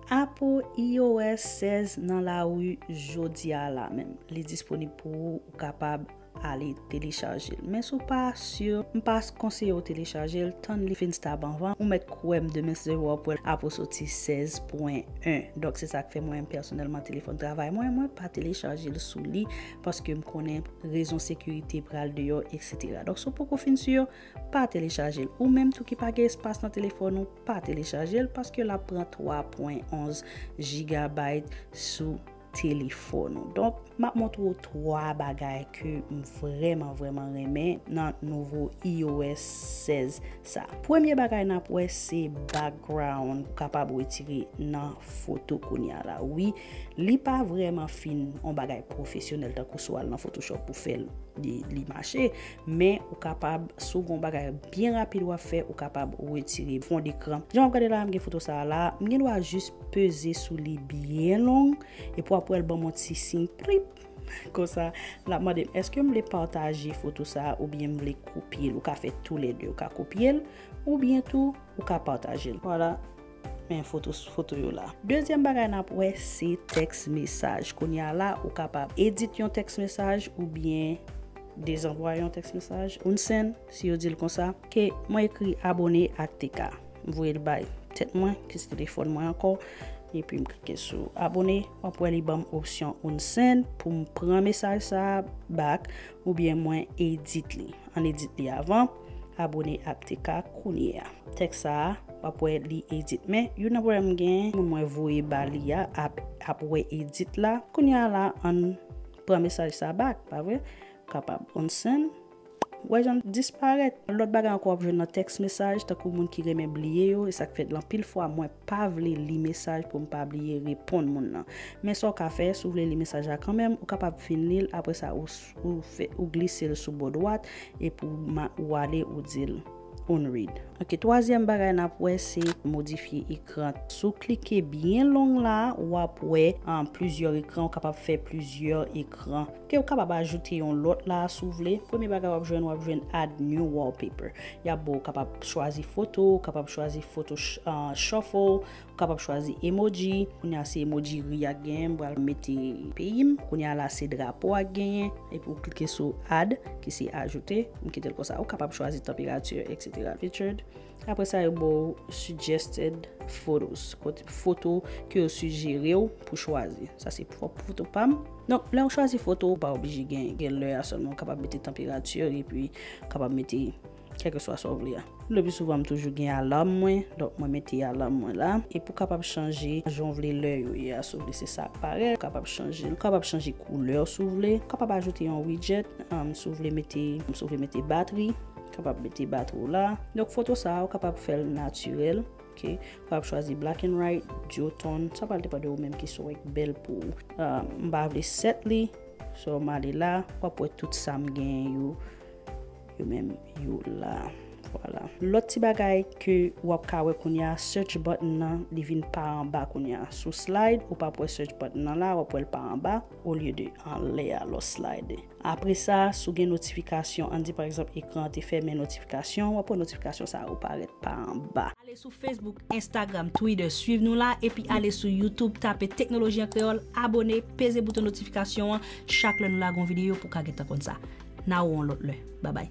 Apo iOS 16 nan lari jodia a la menm. Li disponib pou ou, ou kapab ale telechaje l. Men si w pa sur, m pa konseye w telechaje l, tann li fin stab anvan. Ou mèt kwè m demen 0 w ap wè l apo soti 16.1. Donk se sa k fè mwen menm pèsonèlman telefòn travay mwen, mwen pa telechaje l sou li paske m konnen rezon sekirite pral deyò eksetera. Donk si w poko fin sur, Pa telechajel ou menm tou ki pa gen espas nan telefòn ou pa telechajel paske lap pran 3 pwen 11 jigabay sou telefòn ou donk map montre ou 3 bagay ke m vrèman vrèman renmen nan nouvo IOS 16 sa premye bagay nap wè se background ou kapab retire nan foto kounya la wi li pa vrèman fin yon bagay pwofesyonèl tankou sou al nan photoshop pou fèl li mache Men ou kapab sou gon bagay byen rapid wap fè ou kapab retire fond ekran. Jan wap gade la m gen foto sa a la, m gen dwa jis peze sou li byen long epi wap wè l banm yon ti siy prip konsa lap mande m eske m vle pataje foto sa a oubyen m vle kopye l. Ou ka fè tou lè 2, ou ka kopye l oubyen tou ou ka pataje l. Vwala. Men foto foto yo la. Dezyèm bagay n ap wè se tèks mesaj. Kounye a la, ou kapab edit yon tèks mesaj oubyen dezanvwaye yon tèks mesaj. Unsen, si yo di l konsa. Ok, mwen ekri abone ak TK. M voye l bay tèt mwen, ki se telefòn mwen ankò. Epi m klike sou abone. W ap wè li ban m opsyon unsen pou m pran mesaj sa a bak. Oubyen mwen edit li. Ann edit li avan. Abone aptk kounye a. Tèks sa a, w ap wè li edit. Men, youn nan pwoblèm m gen, moun mwen voye ba li a ap wè edit la. Kounye a la, ann pran mesaj sa bak, pa vre? Kapab. Ann send. Ou wè jan l disparèt. Lòt bagay ankò w ap jwenn nan tèks mesaj, tankou moun ki renmen bliye yo, e sa k fè l anpil fwa mwen. pa vle li mesaj pou m pa bliye reponn moun nan. Men sa w ka fè, si w vle li mesaj la kanmenm, ou kapab fin li l, apre sa ou glise l sou bò dwat epi ou ale ou di l Unread. Ok, twazyèm bagay n ap wè se modifye ekran. Si w klike byen long la, w ap wè plizyè ekran, ou kapab fè plizyè ekran. Ok ou kapab ajoute yon lòt la a si w vle. Premye bagay w ap jwenn, w ap jwenn add new wallpaper. Y ap ba w kapab chwazi foto, ou kapab chwazi foto shuffle, ou kapab chwazi emoji. Kounye a se emoji ri a k genyen, m pral mete peyi m. Kounye a la se drapo a k genyen. Epi ou klike sou add ki se ajoute. M kite l konsa. Ou kapab chwazi tanperati etc. Featured. Apre sa yo ba w suggested photos, kot foto ke yo sijere w pou chwazi. Sa se pwòp foto pa m. Donk, lè ou chwazi foto, ou pa oblije gen gen lè a sèlman. Ou kapab mete tanperati epi kapab mete kèlkeswa sa ou vle a. Lepi souvan m toujou gen alarm mwen, donk mwen mete alarm mwen la. Epi ou kapab chanje jan ou vle lè yo ye a si ou vle se sa k parèt. Ou kapab chanje l. Ou kapab chanje koulè si ou vle. Ou kapab ajoute yon widget si ou vle mete si ou vle mete batri. Kapab mete batri w la. Donk foto sa a ou kapab fè l natirèl. Ok. Ou kapab chwazi black and white, duotone. Sa pral depan de ou menm ki sa w wè ki bèl pou ou. M pa vle set li. So m ale la. W ap wè tout sa m genyen yo. Yo menm yo la. Vwala. Lòt ti bagay ke w ap ka wè kounye a, search button nan li vin pa anba kounye a. Si w slide, ou pap wè search button nan la. W ap wè l pa anba. olye de anlè a lò slide. Apre sa, si w gen notifikasyon, ann di pa egzanp ekran an te fèmen notifikasyon, w ap wè notifikasyon sa yo parèt pa anba. Ale sou Facebook, Instagram, Twitter, swiv nou la, epi ale sou YouTube tape Teknoloji an Kreyòl, abone, peze bouton notifikasyon an chak lè nou lage yon videyo pou w ka gentan konn sa. N a ou yon lòt lè. Babay!